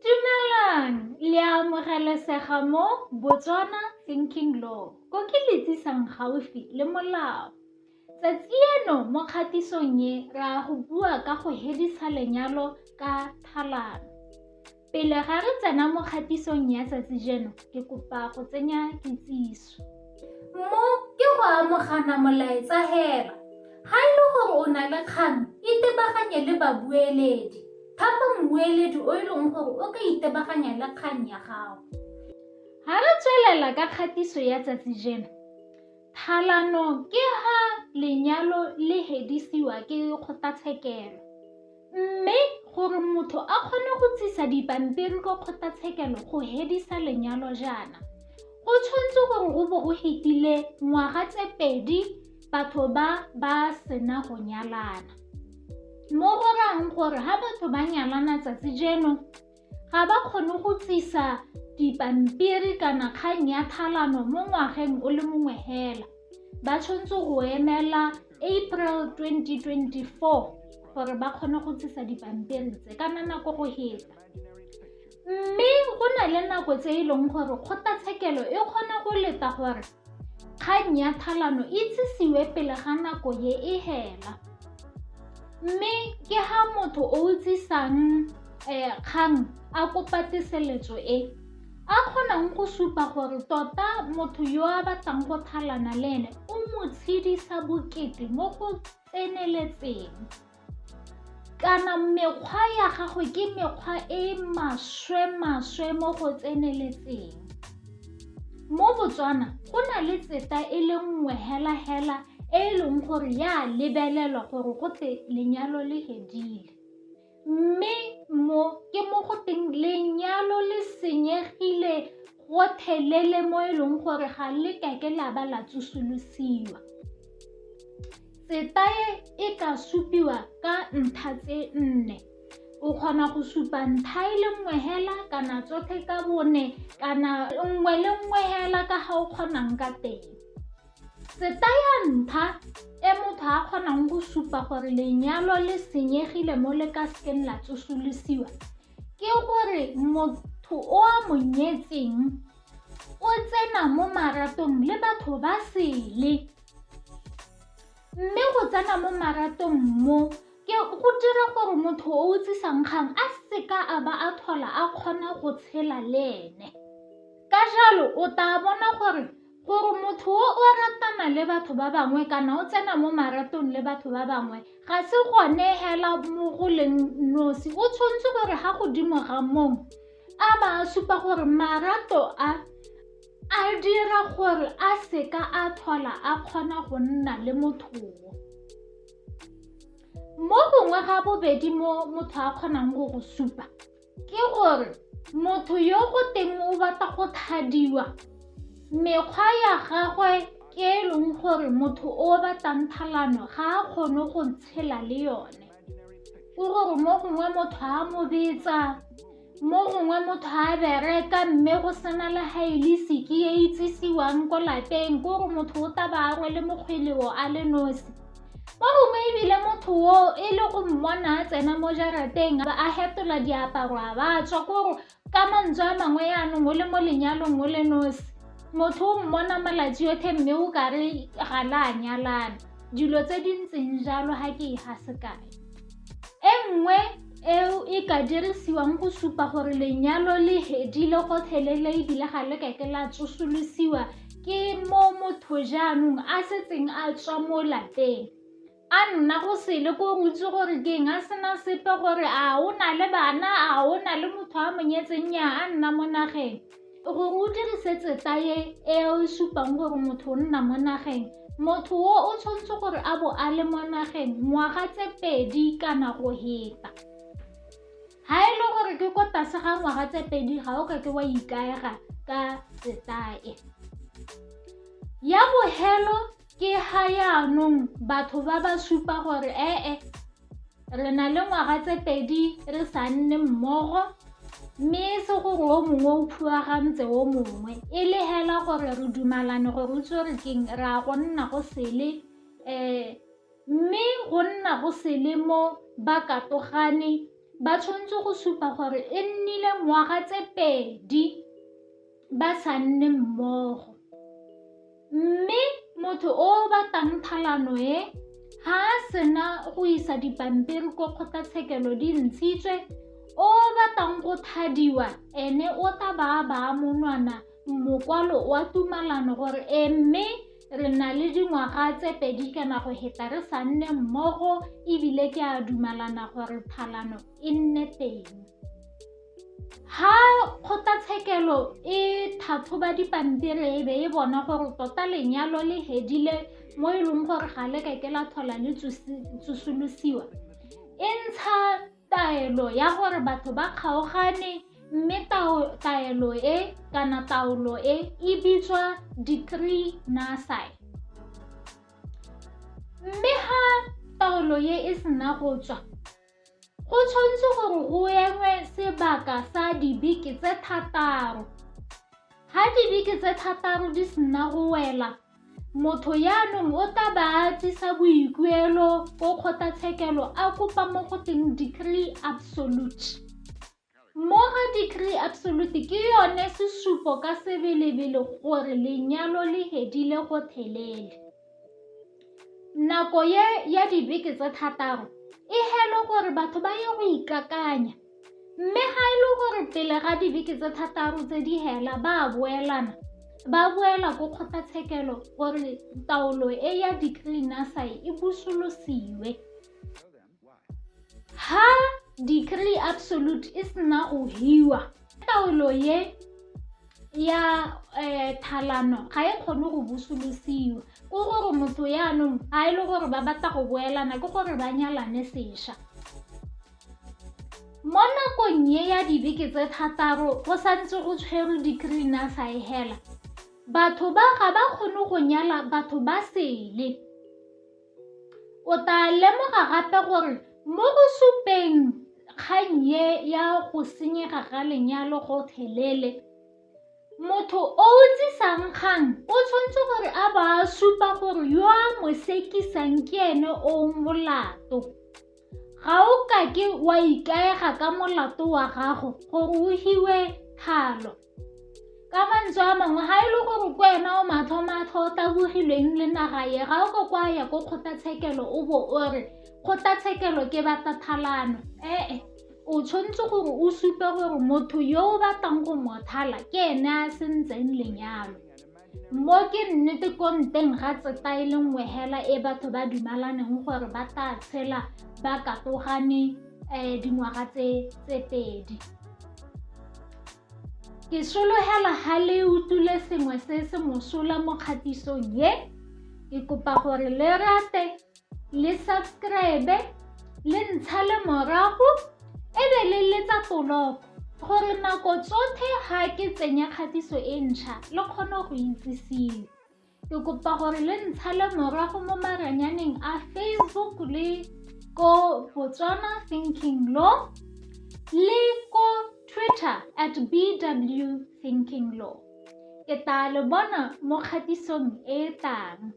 Dumelang, le a amogelesega mo Botswana Thinking Law, ko ke le tsisang gaufi le molao. Tsatsi eno mo kgatisong e re a go bua ka go hedisa lenyalo ka tlhalano. Pele ga re tsena mo kgatisong ya tsatsi jeno, ke kopa go tsenya kitsiso. Mo ke go amogana molaetsa hela. Ga e le gore o na le kgang, itebaganye le babueledi. Thapa mmueledi o e leng gore o ka itebaganya le kgang ya gago. Ga re tswelela ka kgatiso ya tsatsi jeno, thalano ke ha lenyalo le hedisiwa ke kgotlatshekelo. Mme gore motho a kgone go tsisa dipampiri ko kgotlatshekelo go hedisa lenyalo jaana, go tshwanetse gore go bo go hetile ngwaga tse pedi batho ba ba sena go nyalana. Mo go rayang gore ha batho ba nyalana tsatsi jeno ga ba kgone go tlisa dipampiri kana kgang ya thalano mo ngwageng o le mongwe hela ba tshwanetse go emela april 2024 gore ba kgone go tlisa dipampiri tse kana nako go heta mme go na le nako tse e leng gore kgotlatshekelo e kgona go leta gore Kgang ya thalano e itsisiwe pele ga nako ye e hela. Mme ke ha motho o utsisang um kgang a kopa teseletso e a kgonang go supa gore tota motho yo a batlang go thalana le ene o mo tshedisa bokete mo go tseneletseng. Kana mekgwa ya gago ke mekgwa e e maswe-maswe mo go tseneletseng. Mo Botswana go na le tseta e le nngwe hela-hela e e leng gore ya lebelelwa gore go te lenyalo le fedile. Mme mo ke mo go teng lenyalo le senyegile gotlhelele mo e leng gore ga le kake la ba la tsosolosiwa. Setae e ka supiwa ka ntlha tse nne. O kgona go supa ntlha e le nngwe hela kana tsotlhe ka bone kana nngwe le nngwe hela ka ga o kgonang ka teng. Setaya ntlha e motho a kgonang go supa gore lenyalo le senyegile mo le ka sekeng la tsosolosiwa ke gore motho o a mo nyetseng o tsena mo maratong le batho ba sele Mme go tsena mo maratong mo ke go dira gore motho o o tsisang kgang a seka a ba a tlhola a kgona go tshela le ene. Ka jalo o tla bona gore gore motho o o ratana le batho ba bangwe kana o tsena mo maratong le batho ba bangwe ga se gone hela mo go leng nosi, o tshwanetse gore ga godimo ga moo a ba a supa gore marato a A dira gore a seka a tlhola a kgona go nna le mothowo. Mo gongwe ga bobedi mo motho a kgonang go go supa ke gore motho yo go teng o batla go thadiwa mekgwa ya gagwe ke e leng gore motho o batlang thalano ga a kgone go tshela le yone. o re gore mo gongwe motho a mo betsa mo gongwe motho a bereka mme go sena le ga e le seke e itsisiwang ko lapeng ko gore motho o taba a rwele mokgweleo a le nosi mo gongwe ebile motho o e le go mmona a tsena mo jarateng a fetola diaparo a ba tswa ko gore Ka mantswe a mangwe jaanong o le mo lenyalong o le nosi, motho o mmona malatsi otlhe mme o kare ga le a nyalana. Dilo tse di ntseng jalo ga ke e ga sekae. E nngwe eo e ka dirisiwang go supa gore lenyalo le hedile gotlhelele ebile ga le kake la tsosolosiwa ke mo motho jaanong a setseng a tswa mo lapeng. a nna go sele ko o itse gore ke eng a sena sepe gore a o na le bana a o na le motho a mo nyetseng nya a nna mo nageng gore o dirisetse taye e o e supang gore motho o nna mo nageng motho o o tshwanetse gore a bo a le mo nageng ngwaga tse pedi kana go heta ga e le gore ke ko tlase ga ngwaga tse pedi ga o ka ke wa ikaega ka setae ya bohelo ke ga yaanong batho ba ba supa gore ee re na le ngwaga tse pedi re sa nne mmogo mme e se gore o mongwe o phuagantse o mongwe e le hela gore re dumalane gore o tsere keng re a go nna go sele um mme go nna go sele mo ba katogane ba tshwanetse go supa gore e nnile ngwaga tse pedi ba sa nne mmogo. Mme motho o o batang tlhalano e ga a sena go isa dipampiri ko kgotlatshekelo di ntshitswe o batang go thadiwa ene o tla ba ba monwana mokwalo wa tumalano gore e mme re na le dingwaga tse pedi kana go heta re sa nne mmogo ebile ke a dumalana gore phalano e nne teng Ha kgotlatshekelo e tlhatlhoba dipampiri e be e bona gore tota lenyalo le hedile mo e leng gore ga le kake la tlhola le tsosolosiwa e ntsha taelo ya gore batho ba kgaogane mme taelo e kana taolo e e bitswa decree nullified mme ha taolo e e sena go tswa Go tshwanetse gore go engwe sebaka sa dibeke tse thataro. Ga dibeke tse thataro di sena go wela, motho yaanong o tla ba a tlisa boikuelo ko kgotlatshekelo a kopa mo go teng decree absolute. Mmogo degree absolute ke yone sesupo ka sebelebele gore lenyalo le hedile gotlhelele. Nako ye ya dibeke tse thataro e helwe gore batho ba ye go ikakanya mme ga e le gore pele ga dibeke tse thataro tse di hela ba a boelana ba boela ko kgotlatshekelo gore taolo e ya degree nursery e busolosiwe. Ha decree absolute e sena go hiwa taolo ye ya um thalano ga e kgone go busolosiwa ko gore motho yaanong ga e le gore ba batla go boelana ke gore ba nyalane sešwa mo nakong ye ya dibeke tse thataro go santse go tshwerwe decree na sa e hela batho ba ga ba kgone go nyala batho ba sele O tla lemoga gape gore mo go supeng kgang ye ya go senyega ga lenyalo gotlhelele, motho o o tsisang kgang o tshwanetse gore a ba a supa gore yo a mo sekisang ke ene o molato. Ga o kake wa ikaega ka molato wa gago gore o hiwe thalo. Ka mantswe a mangwe, ga e le gore ke wena o matlhomatlho o tabogilweng le naga ye, ga o ko kwa ya ko kgotlatshekelo o bo o re kgotlatshekelo ke batathalano. Ee, o tshwanetse gore o supe gore motho yo o batlang go mothala ke ene a sentseng lenyalo. Mo ke nnete ko nteng ga tseta e le nngwe hela e batho ba dumalaneng gore ba tla tshela ba katogane um dingwaga tse pedi ke solohela ga le utlwile sengwe se se mosola mo kgatisong ye ke kopa gore le rate le subscribe le ntsha le morago e be le letsa toloko gore nako tsotlhe ga ke tsenya kgatiso e ntšha le kgone go itsisiwe ke kopa gore le ntsha le morago mo maranyaneng a facebook le ko botswana thinking law le ko twitter at bw thinking law ke tla le bona mo kgatisong e tlang